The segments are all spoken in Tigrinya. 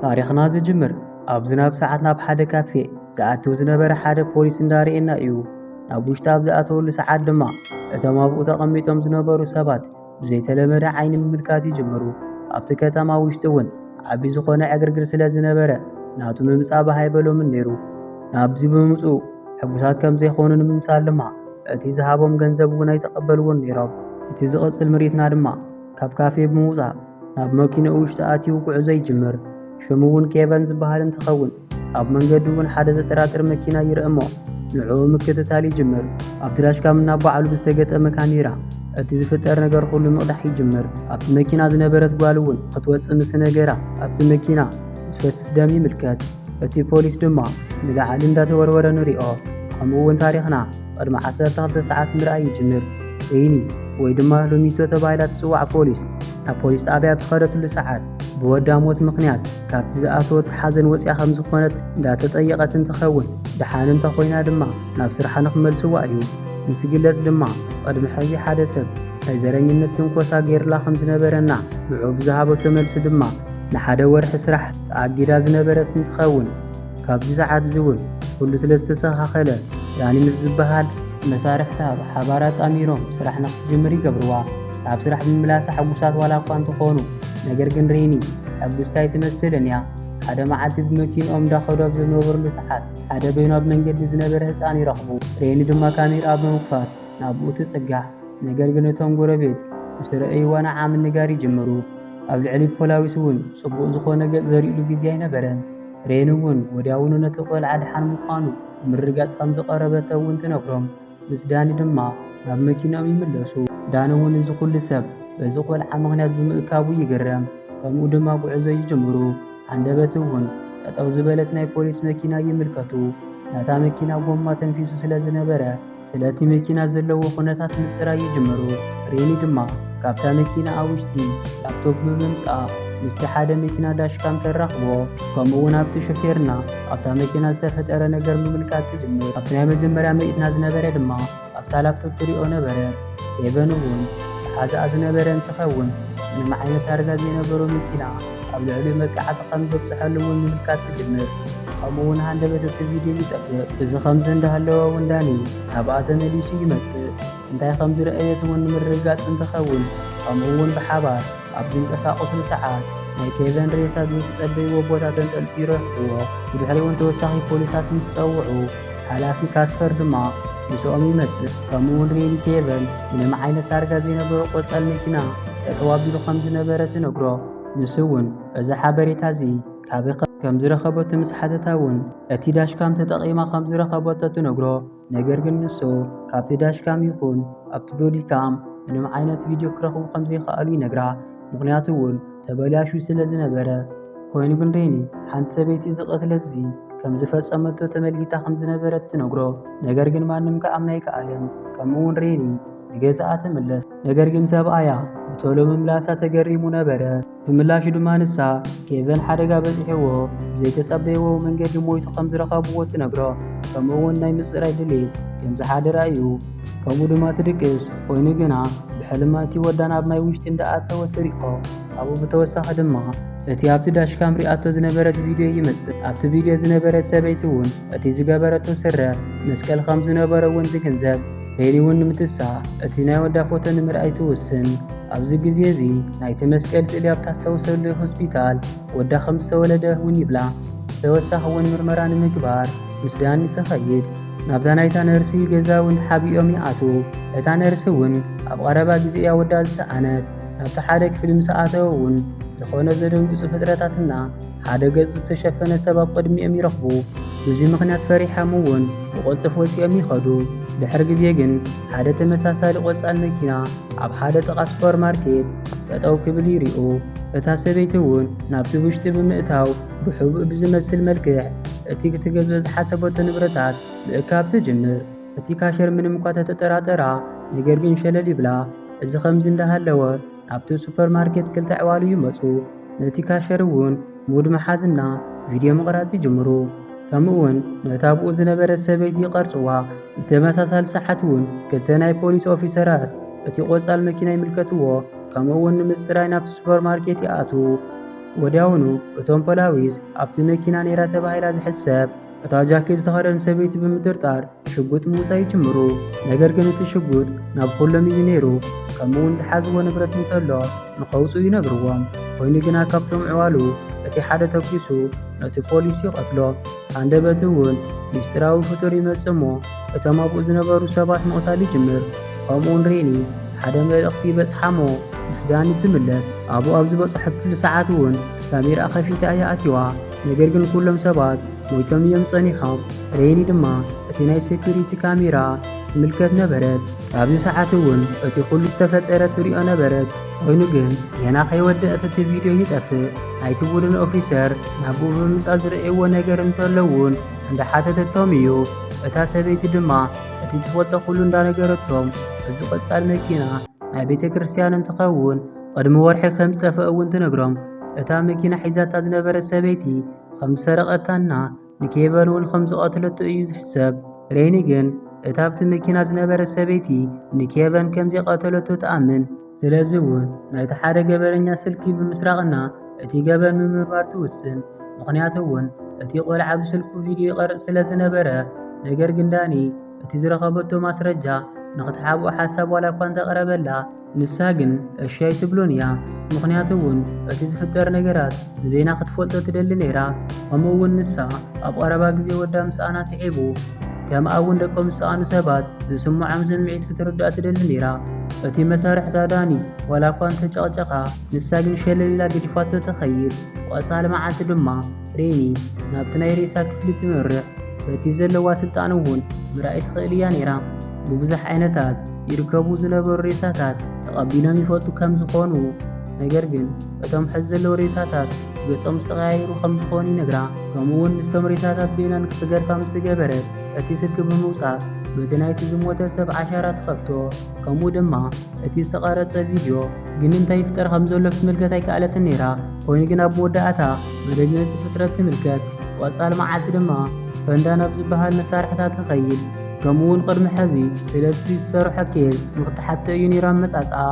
ታሪኽና ዝጅምር ኣብ ዝናብ ሰዓት ናብ ሓደ ካፌ ዝኣትው ዝነበረ ሓደ ፖሊስ እንዳርኤና እዩ። ናብ ውሽጢ ኣብ ዝኣተወሉ ሰዓት ድማ እቶም ኣብኡ ተቐሚጦም ዝነበሩ ሰባት ብዘይተለመደ ዓይኒ ምምልካት ይጅምሩ። ኣብቲ ከተማ ውሽጢ እውን ዓቢ ዝኾነ ዕግርግር ስለ ዝነበረ ናቱ ምምጻእ ባህ ኣይበሎምን ነይሩ። ናብዚ ብምምጽኡ ሕጉሳት ከም ዘይኮኑ ንምምሳል ድማ እቲ ዝሃቦም ገንዘብ እውን ኣይተቐበልዎን ነይሮም። እቲ ዝቕጽል ምርኢትና ድማ ካብ ካፌ ብምውጻእ ናብ መኪንኡ ውሽጢ ኣትዩ ጉዕዞ ይጅምር። ሽሙ እውን ኬቨን ዝበሃል እንትኸውን ኣብ መንገዱ እውን ሓደ ዘጠራጥር መኪና ይርእ እሞ ንዕኡ ምክትታል ይጅምር። ኣብቲ ዳሽካም ናብ በዓሉ ብዝተገጠመ ካሜራ እቲ ዝፍጠር ነገር ኩሉ ምቕዳሕ ይጅምር። ኣብቲ መኪና ዝነበረት ጓል እውን ክትወፅእ ምስ ነገራ ኣብቲ መኪና ዝፈስስ ደም ይምልከት። እቲ ፖሊስ ድማ ንላዕሊ እንዳተወርወረ ንሪኦ። ከምኡ እውን ታሪኽና ቅድሚ ዓሰርተ ክልተ ሰዓት ምርኣይ ይጅምር። እይኒ ወይ ድማ ሎሚቶ ተባሂላ ትጽዋዕ ፖሊስ ናብ ፖሊስ ጣብያ ኣብ ዝኸደትሉ ሰዓት ብወዳ ሞት ምኽንያት ካብቲ ዝኣተወት ሓዘን ወፂኣ ከም ዝኾነት እንዳተጠየቐት እንትኸውን ደሓን እንተኾይና ድማ ናብ ስርሓ ንክመልስዋ እዩ እንትግለጽ ድማ ቕድሚ ሕዚ ሓደ ሰብ ናይ ዘረኝነት ትንኮሳ ገይርላ ከም ዝነበረና ንዑ ብዝሃበቶ መልሲ ድማ ንሓደ ወርሒ ስራሕ ተኣጊዳ ዝነበረት እንትኸውን ካብዚ ሰዓትዚ እውን ኩሉ ስለ ዝተሰኻኸለ ዳኒ ምስ ዝበሃል መሳርሕታ ብሓባር ኣጣሚሮም ስራሕ ንክትጅምር ይገብርዋ። ናብ ስራሕ ብምምላሳ ሕጉሳት ዋላ እኳ እንተኾኑ ነገር ግን ሬኒ ሕጉስቲ ኣይትመስልን እያ። ሓደ መዓልቲ ብመኪንኦም እንዳኸዱ ኣብ ዝነበርሉ ሰዓት ሓደ በይኑ ኣብ መንገዲ ዝነበረ ህፃን ይረኽቡ። ሬኒ ድማ ካሜርኣ ብምክፋት ናብኡ ትፅጋዕ። ነገር ግን እቶም ጎረቤት ምስ ረእይዋ ንዓ ምንጋር ይጅምሩ። ኣብ ልዕሊ ፖላዊስ እውን ፅቡቕ ዝኾነ ገፅ ዘሪኡሉ ግዜ ኣይነበረን። ሬን እውን ወዲያውኑ ነቲ ቆልዓ ድሓን ምዃኑ ምርግጋጽ ከም ዝቐረበቶ እውን ትነግሮም። ምስ ዳኒ ድማ ናብ መኪናኦም ይምለሱ። ዳኒ እውን እዚ ኩሉ ሰብ በዚ ቆልዓ ምኽንያት ብምእካቡ ይግረም። ከምኡ ድማ ጉዕዞ ይጅምሩ። ሃንደበት እውን ጠጠው ዝበለት ናይ ፖሊስ መኪና ይምልከቱ። ናታ መኪና ጎማ ተንፊሱ ስለ ዝነበረ ስለቲ መኪና ዘለዎ ኩነታት ምጽራይ ይጅምሩ። ሬኒ ድማ ካብታ መኪና ኣውሽቲ ላፕቶፕ ብምምጻእ ምስቲ ሓደ መኪና ዳሽካም ተራኽቦ ከምኡ እውን ኣብቲ ሹፌርና ኣብታ መኪና ዝተፈጠረ ነገር ምምልካት ትጅምር። ኣብቲ ናይ መጀመርያ ምርኢትና ዝነበረ ድማ ኣብታ ላፕቶፕ ትሪኦ ነበረ። ሄቨን እውን ሓዛኣ ዝነበረ እንትኸውን ምንም ዓይነት ታርጋ ዘይነበሮ መኪና ኣብ ልዕሊኡ መጥቃዕቲ ከም ዘብጽሐሉ እውን ምምልካት ትጅምር። ከምኡ እውን ሃንደበት እቲ ቪድዮ ይጠፍእ። እዚ ከምዚ እንዳሃለወ እውን ዳኒ ናብኣ ተመሊሱ ይመጽእ። እንታይ ከም ዝረኣየት እውን ንምርግጋጽ እንትኸውን ከምኡ እውን ብሓባር ኣብ ዝንቀሳቐስሉ ሰዓት ናይ ኬቨን ሬሳ ዝጽጸበይዎ ቦታ ተንጠልጢሉ ረኺቡዎ። ብድሕሪኡ እውን ተወሳኺ ፖሊሳት ምስ ጸውዑ፣ ሓላፊ ካስፐር ድማ ምስኦም ይመጽእ። ከምኡ'ውን ሪን ጌቨን ምንም ዓይነት ታርጋ ዘይነበሮ ቆጻል መኪና ጠጠው ኣቢሉ ከም ዝነበረ ትነግሮ። ንሱ እውን እዚ ሓበሬታ እዚ ካበይ ከም ዝረኸበቶ ምስ ሓተታ እውን እቲ ዳሽካም ተጠቒማ ከም ዝረኸበቶ ትነግሮ። ነገር ግን ንሱ ካብቲ ዳሽካም ይኹን ኣብቲ ቦዲካም ምንም ዓይነት ቪድዮ ክረኽቡ ከም ዘይከኣሉ ይነግራ። ምኽንያቱ እውን ተበላሹ ስለ ዝነበረ። ኮይኑ ግን ደይኒ ሓንቲ ሰበይቲ እዚ ቅትለት እዚ ከም ዝፈጸመቶ ተመልኪታ ከም ዝነበረት ትነግሮ። ነገር ግን ማንም ከኣምና ኣይከኣለን። ከምኡውን ሬኒ ንገዛኣ ትምለስ። ነገር ግን ሰብኣያ ብቶሎ ምምላሳ ተገሪሙ ነበረ። ብምላሹ ድማ ንሳ ኬቨን ሓደጋ በጺሕዎ ብዘይተጸበይዎ መንገዲ ሞይቱ ከም ዝረኸብዎ ትነግሮ። ከምኡውን ናይ ምጽራይ ድሌት ከም ዝሓደራ እዩ። ከምኡ ድማ ትድቅስ፣ ኮይኑ ግና ብሕልማ እቲ ወዳ ናብ ማይ ውሽጢ እንዳኣተወ ትሪኦ፣ ካብኡ ብተወሳኺ ድማ እቲ ኣብቲ ዳሽካም ሪኣቶ ዝነበረት ቪድዮ ይመጽእ፣ ኣብቲ ቪድዮ ዝነበረት ሰበይቲ ውን እቲ ዝገበረቶ ስረ መስቀል ከም ዝነበሮ ውን ትግንዘብ፣ ሄሊ ውን ንምትሳእ እቲ ናይ ወዳ ፎቶ ንምርኣይ ትውስን፣ ኣብዚ ግዜ እዚ ናይቲ መስቀል ስእሊ ኣብ ታስታውሰሉ ሆስፒታል ወዳ ከም ዝተወለደ ውን ይብላ፣ ብተወሳኺ ውን ምርመራ ንምግባር ምስ ዳኒ ትኸይድ፣ ናብዛ ናይታ ነርሲ ገዛ እውን ተሓቢኦም ይኣትዉ። እታ ነርሲ እውን ኣብ ቐረባ ግዜ እያ ወዳ ዝሰኣነት። ናብቲ ሓደ ክፍሊ ምስ ኣተው እውን ዝኾነ ዘደንግጹ ፍጥረታትና ሓደ ገጹ ዝተሸፈነ ሰብ ኣብ ቅድሚኦም ይረኽቡ። ብዙይ ምኽንያት ፈሪሖም እውን ብቕልጡፍ ወጺኦም ይኸዱ። ድሕሪ ግዜ ግን ሓደ ተመሳሳሊ ቆጻል መኪና ኣብ ሓደ ጥቓ ሱፐርማርኬት ጠጠው ክብል ይሪኡ። እታ ሰበይቲ እውን ናብቲ ውሽጢ ብምእታው ብሕቡእ ብዝመስል መልክዕ እቲ ክትገዝኦ ዝሓሰበቶ ንብረታት ምእካብ ትጅምር። እቲ ካሸር ምንም እኳ ተተጠራጠራ፣ ነገር ግን ሸለል ይብላ። እዚ ከምዚ እንዳሃለወ ናብቲ ሱፐር ማርኬት ክልተ ዕዋሉ ይመጹ። ነቲ ካሸር እውን ሙድ መሓዝና ቪድዮ ምቕራጽ ይጅምሩ። ከምኡውን ነታ ብኡ ዝነበረት ሰበይቲ ይቐርጽዋ። ብተመሳሳሊ ሰዓት እውን ክልተ ናይ ፖሊስ ኦፊሰራት እቲ ቆጻል መኪና ይምልከትዎ፣ ከምኡውን ንምጽራይ ናብቲ ሱፐር ማርኬት ይኣትዉ። ወዲያውኑ እቶም ፖላዊስ ኣብቲ መኪና ነይራ ተባሂላ ዝሕሰብ እታ ጃኬት ዝተኸደን ሰበይቲ ብምጥርጣር ሽጉጥ ምውፃእ ይጅምሩ። ነገር ግን እቲ ሽጉጥ ናብ ኩሎም እዩ ነይሩ። ከምኡ እውን ዝሓዝዎ ንብረት እንተሎ ንኸውፅኡ ይነግርዎም። ኮይኑ ግና ካብቶም ዕዋሉ እቲ ሓደ ተኩሱ ነቲ ፖሊስ ይቐትሎ። ሃንደበት እውን ምስጢራዊ ፍጡር ይመፅእ እሞ እቶም ኣብኡ ዝነበሩ ሰባት ምቕታል ይጅምር። ከምኡውን ሬኒ ሓደ መልእኽቲ ይበጽሓ'ሞ ምስ ዳኒ ትምለስ። ኣብኡ ኣብ ዝበጽሐትሉ ሰዓት እውን ሳሚራ ከፊታ እያ ኣትዋ። ነገር ግን ኩሎም ሰባት ሞይቶም እዮም ጸኒሖም። ሬኒ ድማ እቲ ናይ ሴኩሪቲ ካሜራ ትምልከት ነበረት። ኣብዚ ሰዓት እውን እቲ ኩሉ ዝተፈጠረ ትሪኦ ነበረት። ኮይኑ ግን ገና ከይወደአት እቲ ቪድዮ ይጠፍእ። ናይቲ ቡድን ኦፊሰር ናብኡ ብምምጻእ ዝርእይዎ ነገር እንተሎ እውን እንዳ ሓተተቶም እዩ እታ ሰበይቲ ድማ እቲ ትፈልጦ ኩሉ እንዳ ነገረቶም እዚ ቆጻል መኪና ናይ ቤተክርስትያን እንትኸውን ቅድሚ ወርሒ ከም ዝጠፈእ እውን ትነግሮም እታ መኪና ሒዛታ ዝነበረት ሰበይቲ ከም ዝሰረቀታና ንኬቨን እውን ከም ዝቀትለቶ እዩ ዝሕሰብ ሬኒ ግን እታ ኣብቲ መኪና ዝነበረት ሰበይቲ ንኬቨን ከም ዘይቀተለቶ ትኣምን ስለዚ እውን ናይቲ ሓደ ገበነኛ ስልኪ ብምስራቕና እቲ ገበን ምምርማር ትውስን። ምኽንያቱ እውን እቲ ቆልዓ ብስልኩ ቪድዮ ይቐርፅ ስለ ዝነበረ። ነገር ግን ዳኒ እቲ ዝረኸበቶ ማስረጃ ንኽትሓብኦ ሓሳብ ዋላ እኳ እንተቕረበላ፣ ንሳ ግን እሺ ኣይትብሎን እያ ምኽንያቱ እውን እቲ ዝፍጠር ነገራት ብዜና ክትፈልጦ ትደሊ ነይራ ከምኡ እውን ንሳ ኣብ ቐረባ ግዜ ወዳ ምስኣና ስዒቡ። ከምኣ ውን ደቆም ዝሰኣኑ ሰባት ዝስምዖም ስምዒት ክትርዳእ ትደሊ ነይራ። እቲ መሳርሕታ ዳኒ ዋላ እኳ እንተ ጨቕጨቓ ንሳ ግን ሸለል ኢላ ገዲፋቶ ትኸይድ። ቆጻል መዓልቲ ድማ ሬኒ ናብቲ ናይ ሬሳ ክፍሊ ትምርሕ። በቲ ዘለዋ ስልጣን እውን ምርኣይ ትኽእል እያ ነይራ። ብብዙሕ ዓይነታት ይርከቡ ዝነበሩ ሬሳታት ተቐቢሎም ይፈልጡ ከም ዝኾኑ ነገር ግን እቶም ሕዚ ዘለዉ ሬሳታት ገጾም ዝተቐያየሩ ከም ዝኾኑ ይነግራ። ከምኡ'ውን ምስቶም ሬሳታት በይና ንክትገርፋ ምስ ዝገበረት እቲ ስልኪ ብምውጻእ በቲ ናይቲ ዝሞተ ሰብ ዓሻራ ትኸፍቶ። ከምኡ ድማ እቲ ዝተቐረጸ ቪድዮ ግን እንታይ ይፍጠር ከም ዘሎ ክትምልከት ኣይከኣለትን ነይራ። ኮይኑ ግን ኣብ መወዳእታ መደንገጺ ፍጥረት ትምልከት። ቐጻሊ መዓልቲ ድማ ፈንዳ ናብ ዝበሃል መሳርሕታ ትኸይድ። ከምኡ ውን ቅድሚ ሐዚ ሰለስቲ ዝሰርሖ ኬዝ ንክትሓቶ እዩ ነይሩ ኣመፃፅኣ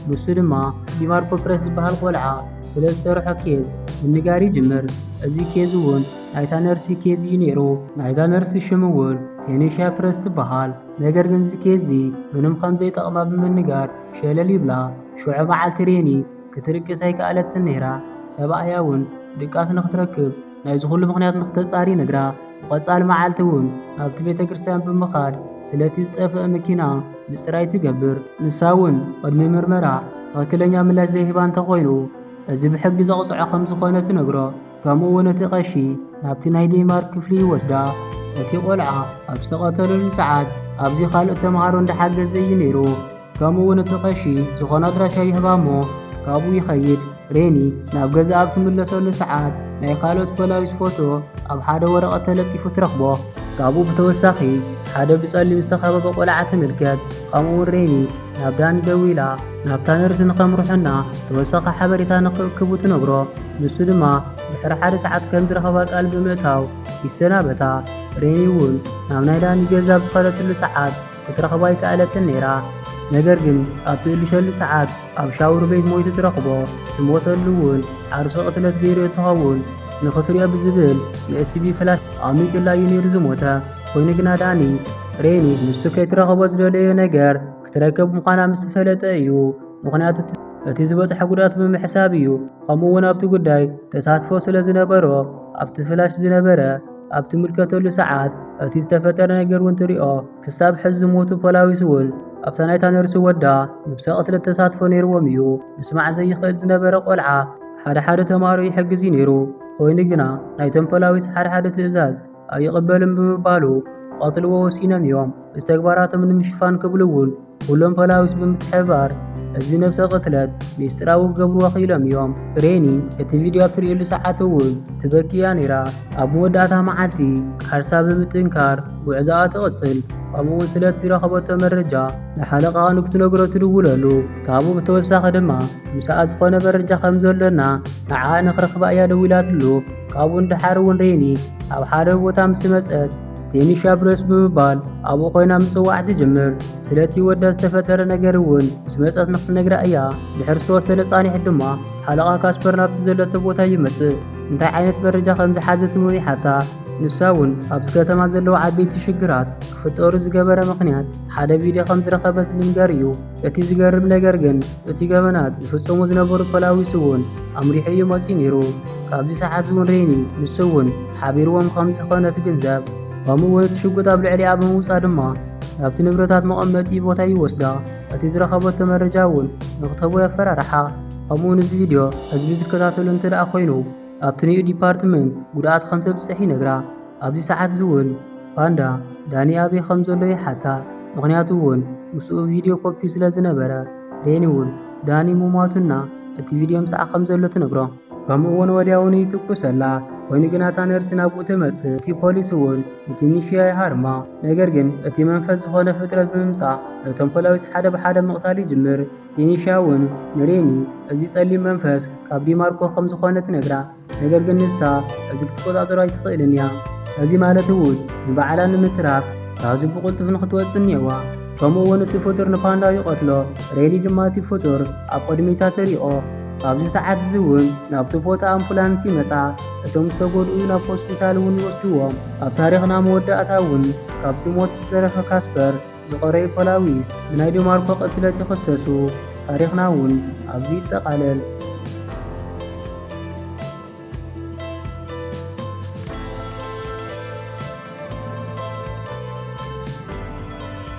ንሱ ድማ ዲማርኮ ፕረስ ዝበሃል ቆልዓ ስለ ዝሰርሖ ኬዝ ምንጋር ይጅምር እዚ ኬዝ ውን ናይታ ነርሲ ኬዝ እዩ ነይሩ ናይዛ ነርሲ ሽም ውን ቴኔሽያ ፕረስ ትበሃል ነገር ግን እዚ ኬዝ እዚ ምንም ከምዘይጠቕማ ብምንጋር ሸለል ይብላ ሽዑ መዓልቲ ሬኒ ክትርቅስ ኣይከኣለትን ነይራ ሰብኣያ ውን ድቃስ ንክትረክብ ናይዚ ኩሉ ምኽንያት ንክተጻሪ ነግራ። ብቐጻሊ መዓልቲ እውን ናብቲ ቤተ ክርስቲያን ብምኻድ ስለቲ ዝጠፍአ መኪና ምጽራይ ትገብር። ንሳ እውን ቅድሚ ምርመራ ትኽክለኛ ምላሽ ዘይህባ እንተኾይኑ እዚ ብሕጊ ዘቕጽዖ ከም ዝኾነ ትነግሮ። ከምኡ እውን እቲ ቀሺ ናብቲ ናይ ዴንማርክ ክፍሊ ይወስዳ። እቲ ቆልዓ ኣብ ዝተቐተለሉ ሰዓት ኣብዚ ካልኦት ተምሃሮ እንዳሓገዘ እዩ ነይሩ። ከምኡ ውን እቲ ቀሺ ዝኾነ ኣድራሻ ይህባ እሞ ካብኡ ይኸይድ። ሬኒ ናብ ገዛ ኣብ ትምለሰሉ ሰዓት ናይ ካልኦት ፖላዊስ ፎቶ ኣብ ሓደ ወረቐት ተለጢፉ ትረኽቦ። ካብኡ ብተወሳኺ ሓደ ብጸሊም ዝተኸበበ ቆልዓ ትምልከት። ከምኡ ውን ሬኒ ናብ ዳኒ ደዊላ ናብታ ነርሲ ንኸምርሑና ተወሳኺ ሓበሬታ ንኽእክቡ ትነግሮ። ንሱ ድማ ድሕሪ ሓደ ሰዓት ከም ዝረኸባ ቃል ብምእታው ይሰናበታ። ሬኒ ውን ናብ ናይ ዳኒ ገዛ ኣብ ዝኸደትሉ ሰዓት ክትረኽቦ ኣይከኣለትን ነይራ። ነገር ግን ኣብ ትእልሸሉ ሰዓት ኣብ ሻውር ቤት ሞይቱ ትረኽቦ፣ ዝሞተሉ እውን ዓርሱ ቅትለት ገይሩ እንትኸውን ንኽትሪኦ ብዝብል ንኤስቢ ፍላሽ ኣሚጡላ እዩ ነይሩ ዝሞተ። ኮይኑ ግና ዳኒ ሬኒ ንሱ ከይትረኽቦ ዝደለዮ ነገር ክትረከብ ምዃና ምስ ፈለጠ እዩ። ምኽንያቱ እቲ ዝበፅሐ ጉድኣት ብምሕሳብ እዩ። ከምኡ እውን ኣብቲ ጉዳይ ተሳትፎ ስለ ዝነበሮ ኣብቲ ፍላሽ ዝነበረ ኣብ ትምልከተሉ ሰዓት እቲ ዝተፈጠረ ነገር እውን ትሪኦ ክሳብ ሕዚ ዝሞቱ ፖላዊስ እውን ኣብታ ናይታ ነርሲ ወዳ ንብሰ ቅትለት ተሳትፎ ነይርዎም እዩ ምስማዕ ዘይኽእል ዝነበረ ቆልዓ ሓደ ሓደ ተማሃሮ ይሕግዝ እዩ ነይሩ ኮይኑ ግና ናይቶም ፖላዊስ ሓደ ሓደ ትእዛዝ ኣይቕበልን ብምባሉ ክቐትልዎ ወሲኖም እዮም እዚ ተግባራቶም ንምሽፋን ክብሉ እውን ኩሎም ፖላዊስ ብምትሕብባር እዚ ነብሰ ቅትለት ሚስጥራዊ ክገብርዎ ክኢሎም እዮም። ሬኒ እቲ ቪድዮ ኣብ ትርእየሉ ሰዓት እውን ትበኪ እያ ነይራ። ኣብ መወዳእታ መዓልቲ ቃልሳ ብምጥንካር ጉዕዞኣ ትቕጽል፣ ከምኡ'ውን ስለቲ ዝረኸበቶ መረጃ ንሓለቃኣ ንክትነግሮ ትድውለሉ። ካብኡ ብተወሳኺ ድማ ምሳኣ ዝኾነ መረጃ ከም ዘሎና ንዓኣ ንክረኽባ እያ ደዊላትሉ። ካብኡ ንደሓር እውን ሬኒ ኣብ ሓደ ቦታ ምስ መጸት ቴኒሻ ብረስ ብምባል ኣብኡ ኮይና ምጽዋዕ ትጅምር። ስለቲ ወዳ ዝተፈጠረ ነገር እውን ምስ መጸት ንክትነግራ እያ። ድሕሪ ዝተወሰነ ጻኒሕት ድማ ሓለቓ ካስፐር ናብቲ ዘለቶ ቦታ ይመጽእ። እንታይ ዓይነት መረጃ ከም ዝሓዘት እውን ይሓታ። ንሳ እውን ኣብዚ ከተማ ዘለዉ ዓበይቲ ሽግራት ክፍጠሩ ዝገበረ ምኽንያት ሓደ ቪድዮ ከም ዝረኸበት ብምንጋር እዩ። እቲ ዝገርም ነገር ግን እቲ ገበናት ዝፍጸሙ ዝነበሩ ፖላዊስ እውን ኣምሪሑ እዩ መፅዩ ነይሩ። ካብዚ ሰዓት እውን ሬኒ ንሱ እውን ሓቢርዎም ከም ዝኾነ ትግንዘብ። ከምኡ እውን እቲ ሽጉጥ ኣብ ልዕሊኣ ብምውፃእ ድማ ናብቲ ንብረታት መቐመጢ ቦታ ይወስዳ። እቲ ዝረኸበቶ መረጃ እውን ንክትህቦ የፈራርሓ። ከምኡ እውን እዚ ቪድዮ ህዝቢ ዝከታተሎ እንተደኣ ኮይኑ ኣብቲ ንዩ ዲፓርትመንት ጉድኣት ከም ዘብፅሕ ይነግራ። ኣብዚ ሰዓት እዚ ውን ፓንዳ ዳኒ ኣበይ ከም ዘሎ ይሓታ ምኽንያቱ ውን ምስኡ ቪድዮ ኮፒዩ ስለ ዝነበረ ዴኒ ውን ዳኒ ምሟቱ እና እቲ ቪድዮ ምስኣ ከም ዘሎ ትነግሮ ከምኡ ውን ወዲያውኑ ይትኩሰላ ኮይኑ ግን ኣታ ነርሲ ናብኡ ትመጽእ እቲ ፖሊስ ውን ንቲኒሽያ ይሃርማ ነገር ግን እቲ መንፈስ ዝኾነ ፍጥረት ብምምጻእ ነቶም ፖላዊስ ሓደ ብሓደ ምቕታል ይጅምር ቲኒሽያ ውን ንሬኒ እዚ ጸሊም መንፈስ ካብ ዲማርኮ ከም ዝኾነ ትነግራ ነገር ግን ንሳ እዚ ክትቆጻጸሮ ኣይትኽእልን እያ። እዚ ማለት እውን ንባዕላ ንምትራፍ ካብዚ ብቕልጡፍ ንኽትወጽእ እኒኦዋ። ከምኡ እውን እቲ ፍጡር ንፓንዳ ይቐትሎ፣ ሬሊ ድማ እቲ ፍጡር ኣብ ቅድሚታ ተሪኦ። ኣብዚ ሰዓት እዚ እውን ናብቲ ቦታ ኣምቡላንስ ይመጻ፣ እቶም ዝተጎድኡ ናብ ሆስፒታል እውን ይወስድዎም። ኣብ ታሪኽና መወዳእታ እውን ካብቲ ሞት ዝተረፈ ካስፐር ዝቖረዩ ፖላዊስ ብናይ ዲማርኮ ቅትለት ይኽሰሱ። ታሪኽና እውን ኣብዚ ይጠቓለል።